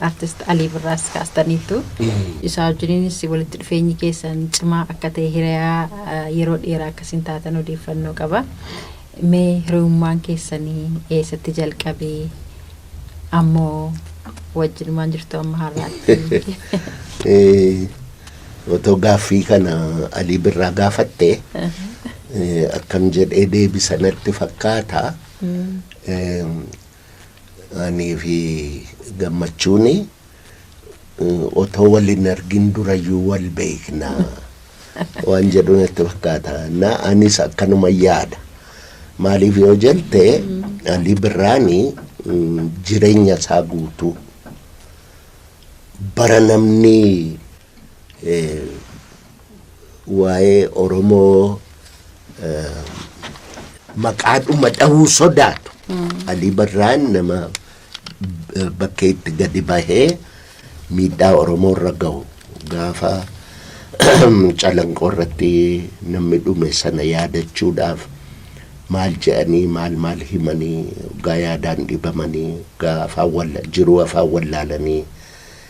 Artist Alii Birraas kaastaniittu. Isaa wajjiniinis walitti dhufeenyi keessan cimaa akka ta'e hiriyaa yeroo dheeraa akka isin taatan odeeffannoo qaba. Mee hiriyummaan keessanii eessatti jalqabe? Ammoo wajjinumaan jirtu amma har'aatti. Otoo gaaffii kana Alii Birraa gaafatte akkam jedhee deebisa natti fakkaata. Anii fi Gammachuun otoo wal hin argin durayyuu wal beekna waan jedhu natti fakkaata. Na anis akkanuma yaada. Maaliif yoo jette Alii Birraan mm, jireenya isaa guutuu bara namni eh, waa'ee Oromoo maqaadhuma dhahuu sodaatu. Alii Barraan nama bakkee itti gadi bahee miidhaa Oromoo irra gahu gaafa calanqoo irratti namni dhume sana yaadachuudhaaf maal jedhanii maal maal himanii gaa yaadaan dhibamanii gaa afaan walla jiruu afaan wallaalanii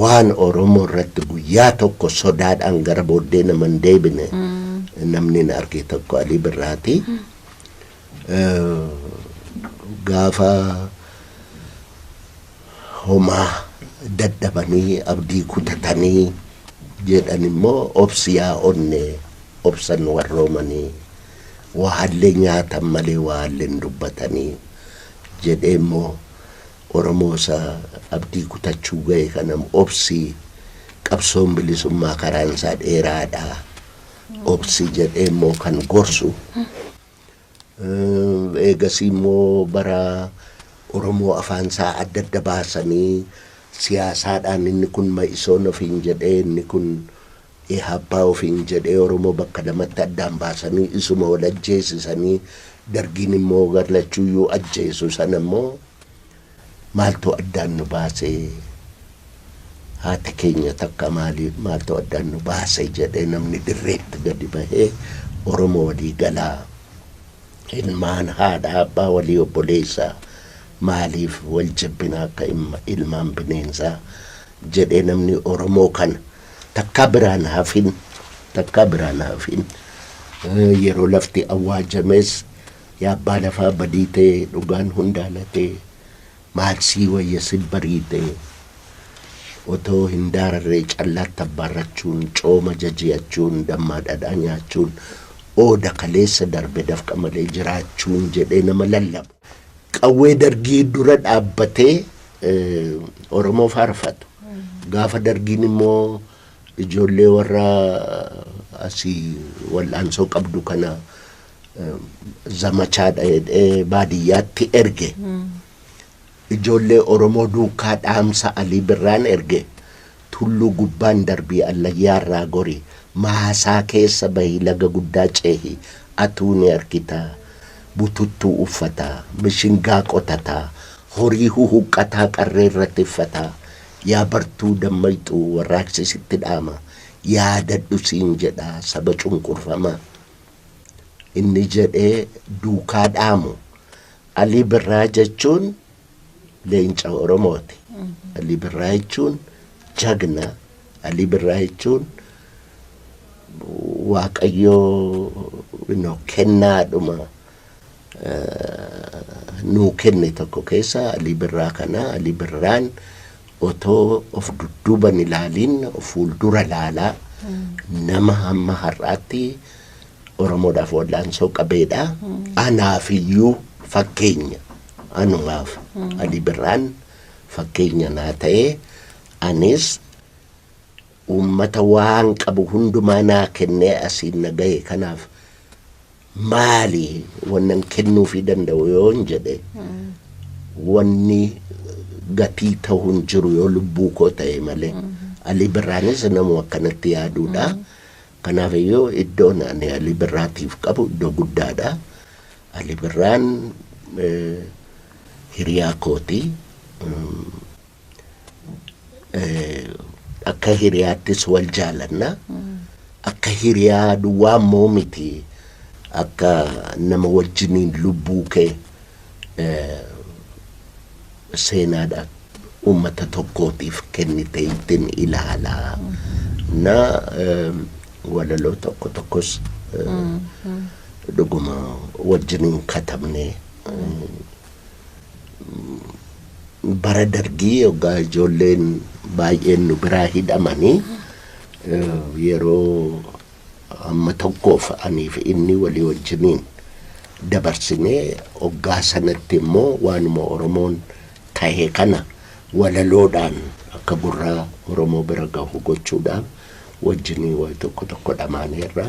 waan Oromoo irratti guyyaa tokko sodaadhaan gara booddee nama hin deebine namni hin arge tokko Alii Birraati. Gaafa homaa dadhabanii abdii kutatanii jedhan immoo obsi yaa onne obsan warroomanii waahallee nyaatan malee waahallee hin dubbatanii jedhee immoo Oromoo isa abdii kutachuu gahe kanam obsi, qabsoon bilisummaa karaan isaa dheeraadha, obsi jedhee immoo kan gorsu. Eegasii immoo bara Oromoo afaan isaa adda adda baasanii siyaasaadhaan inni kun ma'isoon ofiin jedhee inni kun Ihaappaa ofiin jedhee Oromoo bakka lamatti addaan baasanii isuma wal ajjeesisanii Dargiin immoo gar lachuuyyuu ajjeesu sana immoo maaltu addaan nu baase? Haati keenya takka maali maaltu addaan nu baase jedhee namni dirreetti gadi bahee Oromoo walii galaa ilmaan haadha abbaa walii obboleessa maaliif wal jibbina akka ilmaan bineensaa jedhee namni Oromoo kana Takkaa biraan hafin takkaa biraan hafin yeroo lafti awwaajames yaa abbaa lafaa badii ta'e dhugaan hundaa latee maal sii wayya sin bariite otoo hin daararree callaatti abbaarrachuun cooma jaji'achuun dammaa dhadhaa nyaachuun ooda kaleessa darbe dafqa malee jiraachuun jedhee nama lallabu qawwee dargii dura dhaabbatee Oromoo faarfatu. Gaafa dargiin immoo ijoollee warra asii wal'aansoo qabdu kana zamachaadha jedhee baadiyyaatti erge. Ijoollee Oromoo duukaa dhaamsa Alii Birraan erge. Tulluu gubbaan darbii allayyaa irraa gori, maasaa keessa bahi laga guddaa ceehi, atuu ni argitaa. Bututtuu uffataa, mishingaa qotataa, horii huhuqqataa qarree irra tiffataa. Yaa bartuu dammayxuu warraaqsi sitti dhaama, yaadadhu siin jedha saba cunqurfamaa. Inni jedhee duukaa dhaamu. Alii Birraa jechuun. leenca Oromooti. Alii Birraa jechuun jagna. Alii Birraa jechuun waaqayyoo kennaadhuma nuu kenne tokko keessa Alii Birraa kana Alii Birraan otoo of dudduuban ilaaliin of fuuldura laalaa nama hamma har'aatti Oromoodhaaf wallaansoo qabeedha. Anaafiyyuu fakkeenya. Anumaaf Ali Birraan fakkeenya naa ta'e, anis uummata waan qabu hundumaa naa kennee asiin na gahe kanaaf maali wannan kennuufii danda'u yoon jedhe wanni gatii ta'u hin jiru yoo lubbuu koo ta'e malee. Ali Birraanis namuma akkanatti yaaduudha. Kanaaf iyyuu iddoon ani Ali Birraatiif qabu iddoo guddaadha. Ali Birraan hiriyaa kooti. Akka hiriyaattis wal jaalanna. Akka hiriyaa duwwaa immoo miti. Akka nama wajjiniin lubbuu kee seenaadha ummata tokkootiif kennite ittin ilaala na walaloo tokko tokkos dhuguma wajjin hin katabne bara dargii yoggaa ijoolleen baay'een nu biraa hidhamanii yeroo Amma tokkoof aniif inni walii wajjiniin dabarsinee oggaa sanatti immoo waanuma Oromoon tahe kana walaloodhaan akka gurra Oromoo bira gahu gochuudhaaf wajjinii wayi tokko tokko dhamaaneerra.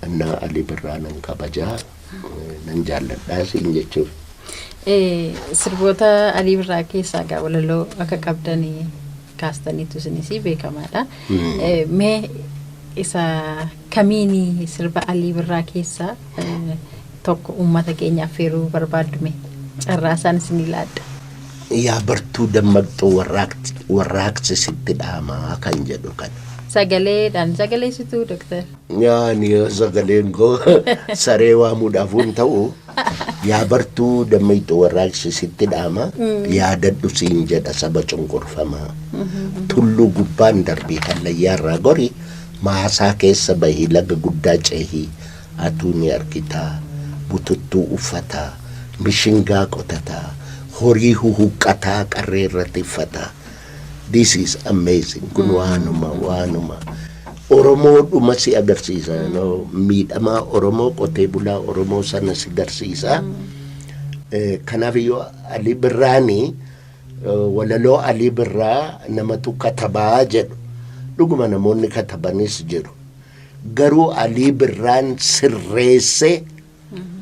Innaa Alii Birraa nan kabaja, nan jaalladha siin jechuuf. Sirboota Alii Birraa keessaa egaa walaloo akka qabdan kaastaniitu isinisii beekamaadha. Mee isa kamiini sirba Alii Birraa keessaa tokko uummata keenya affeeruu barbaaddume carraa isaan isinii laadha. Yaa bartuu dammaqxuu warraaqsi sitti dhaamaa kan jedhu kana. Sagaleedhaan sagaleessituu doktar. Yaani sagaleen koo saree waamuudhaaf hin ta'u. Yaa bartuu dammayxu warraaqsi sitti dhaama yaadadhu siin jedha saba cunqurfamaa. Tulluu gubbaan darbii hallayyaarraa gori maasaa keessa bahi laga guddaa cehi atuu ni argitaa bututtuu uffataa mishingaa qotataa horii huhuqqataa qarreerra tiffataa This is amazing kun waanuma waanuma Oromoo dhuma si agarsiisa you know, miidhamaa Oromoo qotee bulaa Oromoo sana si garsiisa Eh, kanaaf iyyuu Alii Birraani eh, walaloo Alii Birraa namatu katabaa jedhu dhuguma namoonni katabanis jiru garuu Alii Birraan sirreesse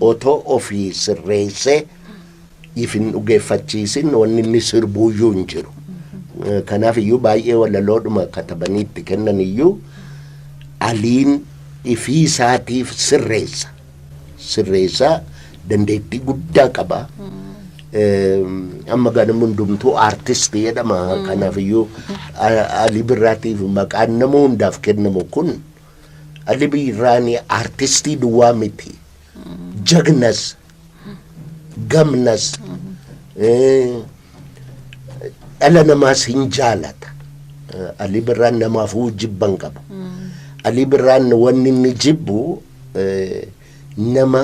otoo ofii sirreessee if hin dhugeeffachiisin wanni inni sirbuuyyuu hin jiru. Eh, Kanaaf iyyuu baay'ee walaloodhuma katabanii itti kennan iyyuu aliin ifii isaatiif sirreessa. Sirreessaa dandeettii guddaa qaba. Eh, Amma ganama hundumtuu aartist jedhama. Kanaaf iyyuu a- alii birraatiif maqaan nama hundaaf kennamu kun Ali Biirraani artistii duwwaa miti. Jagnas, gamnas, eh, dhala namaas hin jaalata. Eh, Ali Birraan namaafuu jibban qabu. Ali Birraan wanni inni jibbu eh, nama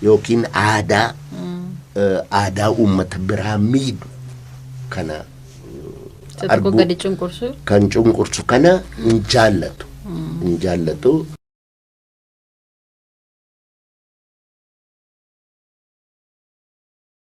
yookiin aadaa eh, aadaa uummata biraa miidhu kana eh, Isa tokko arguu- gadi cunqursu. kan cunqursu kana hin jaallatu hin jaallatu